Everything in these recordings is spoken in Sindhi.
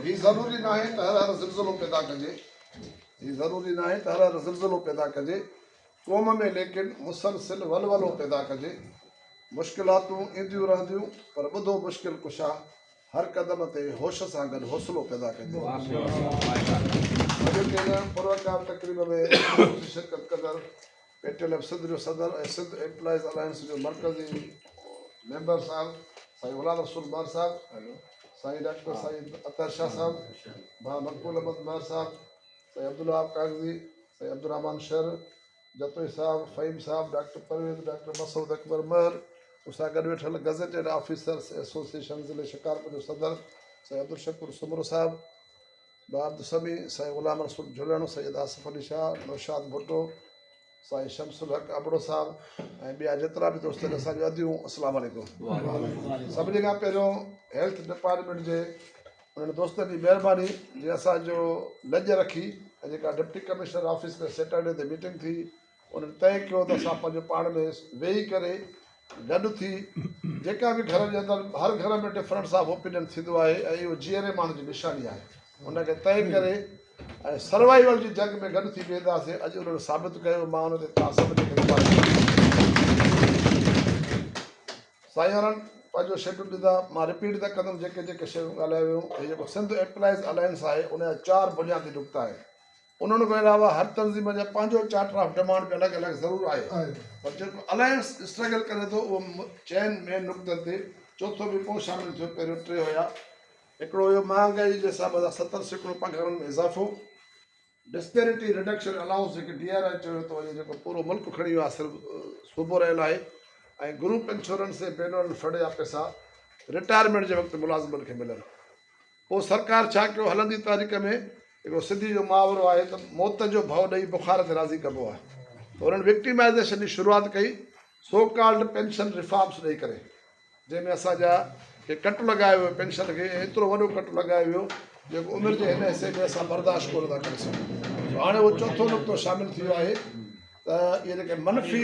هي ضروري ناهي ته هر هر زلزلو پيدا ڪجي هي ضروري ناهي ته هر هر زلزلو پيدا ڪجي قوم ۾ ليڪن مسلسل ولولو پيدا ڪجي مشڪلاتون اينديون رهنديون پر ٻڌو مشڪل ڪشا هر قدم تي هوش سان گڏ حوصلو پيدا ڪجي پروقار تقريب ۾ شرڪت ڪندڙ پيٽل ايف سنڌ جو صدر ۽ سنڌ ايمپلائيز الائنس جو مرڪزي ميمبر صاحب سائين غلام رسول مار صاحب سائين ڊاڪٽر سائين اطهر شاهه صاحب ڀا مقبول احمد مار صاحب سائين عبدالوهاب ڪاڪزي سائين عبدالرحمان شر جتوئي صاحب فهيم صاحب ڊاڪٽر پرويز ڊاڪٽر مسعود اڪبر مهر مون سان گڏ ويٺل گزيٽيڊ آفيسرس ايسوسيئيشن ضلعي شڪارپور جو صدر سائين عبدالشڪور سومرو صاحب بابت سمي، سائين غلام رسول جهلڻ، سيد آصف علي شاهه، نوشاد ڀٽو، سائين شمس الحق ابڙو صاحب ۽ ٻيا جيترا به دوست آهن اسان جون اديون السلام عليڪم. سڀني کان پهريون هيلٿ ڊپارٽمينٽ جي انهن دوستن جي مهرباني جن اسان جو لڄ رکي ۽ جيڪا ڊپٽي ڪمشنر آفيس ۾ سيٽرڊي تي ميٽنگ ٿي انهن طئي ڪيو ته اسان پنهنجو پاڻ ۾ ويهي ڪري گڏ ٿي جيڪا به گهر جي اندر هر گهر ۾ ڊفرنس آف اوپينين ٿيندو آهي ۽ اهو جيئري ماڻهن جي نشاني آهي ان کي طئي ڪري ۽ سروائيول جي جنگ ۾ گڏ ٿي بيهنداسين اڄ انهن ثابت ڪيو مان ان تي توهان سڀ کي سائينرن پنهنجو شيڊول ڏيندا مان رپيٽ نه ڪندم جيڪي جيڪي شيون ڳالهايو ويون هي جيڪو سنڌ ايمپلائيز الائنس آهي ان جا چار بنيادي نقطا آهن انهن کان علاوه هر تنظيم جو پنهنجو چارٽر آف ڊمانڊ به الڳ الڳ ضرور آهي پر جيڪو الائنس اسٽرگل ڪري ٿو اهو چئن مين نقطن تي چوٿون به پوء شامل ٿيو پهريون ٽي هيا هڪڙو هيو مهانگائي جي حساب سان ستر سيڪڙو پگهارن ۾ اضافو ڊسپيرٽي ريڊڪشن الاؤنس جيڪي ڊي آر آء چيو ٿو وڃي جيڪو پورو ملڪ کڻي ويو آهي صرف صوبو رهيل آهي ۽ گروپ انشورنس ۽ بينرن فنڊ جا پيسا رٽائرمينٽ جي وقت ملازمن کي ملن پوء سرڪار ڇا ڪيو؟ هلندي تاريخ ۾ هڪڙو سنڌي جو محاورو آهي ته موت جو ڀؤ ڏئي بخار تي راضي ڪبو آهي ته انهن وڪٽيمائيزيشن جي شروعات ڪئي سو ڪالڊ پينشن ريفارمز ڏئي ڪري جنهن ۾ اسان جا کي ڪٽ لڳايو ويو پينشن کي ۽ ايترو وڏو ڪٽ لڳايو ويو جيڪو عمر جي هن حصي ۾ اسان برداشت ڪونه ٿا ڪري سگهون هاڻي اهو چوٿون نقطو شامل ٿي ويو آهي ته اهي جيڪي منفي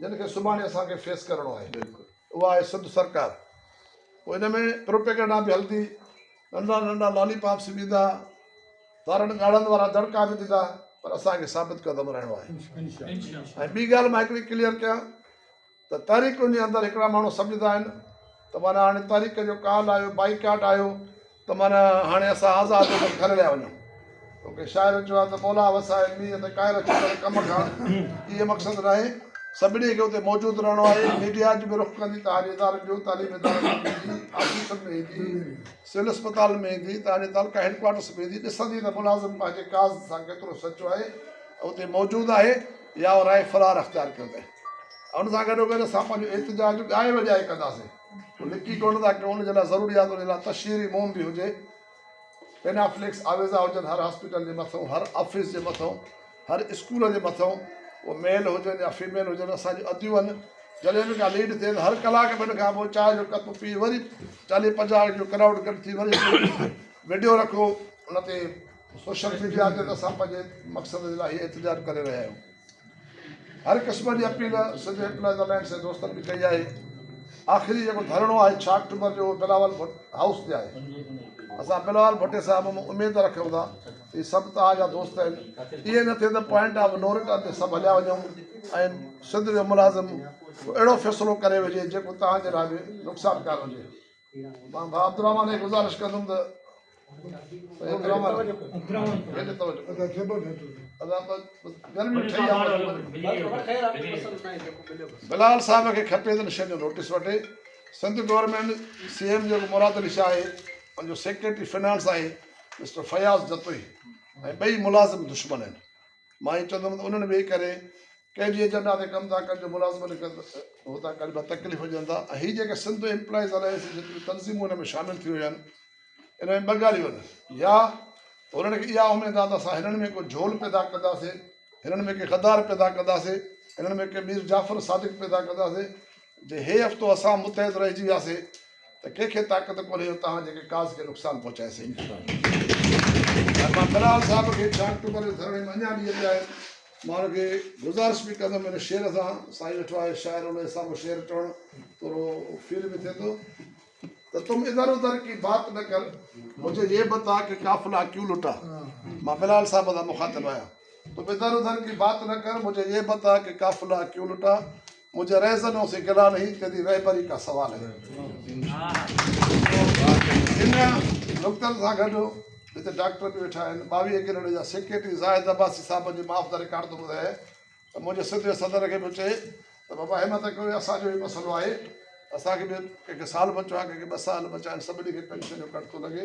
جن کي سڀاڻي اسان کي فيس ڪرڻو آهي اها آهي سنڌ سرڪار پوء ان ۾ پروپيگنڊا به هلندي ننڍا ننڍا لالي پاپس به ايندا تارن ڳاڙهن وارا دڙڪا به ڏيندا پر اسان کي ثابت قدم رهڻو آهي ۽ ٻي ڳالهه مان هڪڙي ڪليئر ڪيان ته تاريخ جي اندر هڪڙا ماڻهو سمجهندا آهن ته مانا هاڻي تاريخ جو ڪال آيو بائيڪاٽ آيو ته معنيٰ هاڻي اسان آزاد هو ته گهر ليا وڃون. توکي شاعر چيو آهي ته مولا وسائي مينهن تي ڪائر ڇڪڻ ڪم کان اهي مقصد ناهي. سڀني کي اتي موجود رهڻو آهي. ميڊيا اڄ به رخ ڪندي تهانجي ادارن جو، تعليمي ادارن جو به ايندي، آفيسن ۾ ايندي، سول اسپتالن ۾ ايندي، تهانجي تعلقه هيڊ ڪوارٽرس ۾ ايندي، ڏسندي ته ملازم پنهنجي ڪاز سان ڪيترو سچو آهي ۽ اتي موجود آهي يا ورهائي فرار اختيار ڪيو اٿئي ۽ ان سان گڏوگڏ اسان پنهنجو احتجاج ڳائي وڄائي ڪنداسين. هو لڪي ڪونه ٿا ڪيون ان جي لاء ضرورياتن جي لاء تشهيري موم به هجي پينافليڪس آويزا هجن هر هاسپيٽل جي مٿئون هر آفيس جي مٿئون هر اسڪول جي مٿئون هو ميل هجن يا فيميل هجن اسان جون اديون جڏهن به ڪا ليڊ ٿئي ته هر ڪلاڪ کن کان پوء چانهه جو ڪپ پي وري چاليهه پنجاهه جو ڪرائوڊ گڏ ٿي وري ويڊيو رکو ان تي سوشل ميڊيا تي ته اسان پنهنجي مقصد جي لاء هي احتجاج ڪري رهيا آهيون هر قسم جي اپيل سنڌ ايمپلائيز الائنس جي دوستن به ڪئي آهي آخري جيڪو ڌرڻو آهي ڇهه آڪٽوبر جو اهو بلاول ڀٽ هائوس تي آهي اسان بلاول ڀٽي صاحب مان اميد رکيون ٿا هي سڀ توهان جا دوست آهن ائين نه ٿئي ته پوائنٽ آف نو رٽرن تي سڀ هليا وڃون ۽ سنڌ جو ملازم اهڙو فيصلو ڪري وجهي جيڪو توهان جي لاء به نقصانڪار هجي مان ڀاء عبدالرحمان کي گذارش ڪندم ته بلال صاحب کي کپي ته شين جو نوٽيس وٺي سنڌ گورنمينٽ سي ايم جيڪو مراد علي شاهه آهي ان جو سيڪريٽري فنانس آهي مسٽر فياض جتوئي ۽ ٻئي ملازم دشمن آهن مان هي چوندم ته انهن ويهي ڪري ڪنهن جي ايجنڊا تي ڪم ٿا ڪن جو ملازم لکن ته هو ته اڳ ڀا تڪليف هجن ٿا ۽ هي جيڪي سنڌ ايمپلائيز الائنس جون جيتريون تنظيمون ان ۾ شامل ٿيون هيون انهن ۾ ٻه ڳالهيون آهن يا هنن کي اها اميد آهي ته اسان هنن ۾ ڪو جهول پيدا ڪنداسين هنن ۾ ڪي غدار پيدا ڪنداسين هنن ۾ ڪي مير جعفر صادق پيدا ڪنداسين جي هي هفتو اسان متحد رهجي وياسي ته ڪنهن کي طاقت ڪونهي جو توهان جي ڪاز کي نقصان پهچائي سگهي ۽ مان بلال صاحب کي چار اڪٽوبر جي ڌرڻي ۾ اڃا به اچائي مان ان کي گذارش به ڪندم ان شعر سان سائين ويٺو آهي شاعر ان حساب سان شعر چوڻ ٿورو فيل به ٿئي ٿو ته تم ادھر ادھر ڪي بات نه ڪر مجھي يي بتا ڪي قافلا ڪيون لٽا مان بلال صاحب سان مخاطب آهيان تم ادھر ادھر ڪي بات نه ڪر مجھي يي بتا ڪي قافلا ڪيون لٽا مجھے رهزنوں سي گلا نهين تيري رهبري ڪا سوال هي ان نقطن سان گڏ جتي ڊاڪٽر به ويٺا آهن ٻاويهه ڪينيڊا جا سيڪريٽري زاهد عباسي صاحبن جي معاف دا رڪارڊ ٿو ٻڌايان ته منهنجي سڌي صدر کي به چئي ته بابا همت ڪيو اسان جو به مسئلو آهي اسان کي به ڪنهن کي سال بچو آهي ڪنهن کي ٻه سال بچا آهن سڀني کي پينشن جو ڪٽ ٿو لڳي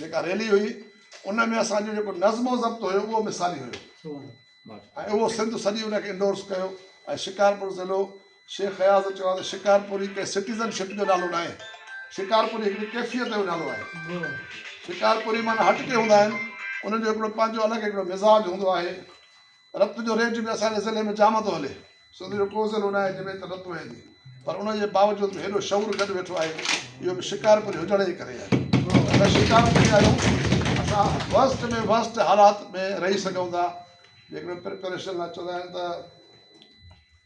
جيڪا ريلي هئي ان ۾ اسان جو جيڪو نظم و ضبط هيو اهو مثالي هيو ۽ اهو سنڌ سڄي ان کي انڊورس ڪيو ۽ شڪارپور ضلعو شيخ خياض چيو آهي ته شڪارپوري ڪنهن سٽيزن شپ جو نالو ناهي شڪارپوري هڪڙي ڪيفيت جو نالو آهي شڪارپوري مانا هٽ ڪي هوندا آهن انهن جو هڪڙو پنهنجو الڳ هڪڙو مزاج هوندو آهي رت جو ريٽ به اسان جي ضلعي ۾ جام ٿو هلي سنڌ جو ڪو ضلعو ناهي جنهن ۾ ايتري رت وهي ٿي پر ان جي باوجود به هيڏو شعور گڏ ويٺو آهي اهو به شڪارپوري هجڻ جي ڪري آهي اسان شڪارپوري آهيون اسان ورسٽ ۾ ورسٽ حالات ۾ رهي سگهون ٿا جيڪڏهن پريپريشن لاء چوندا آهن ته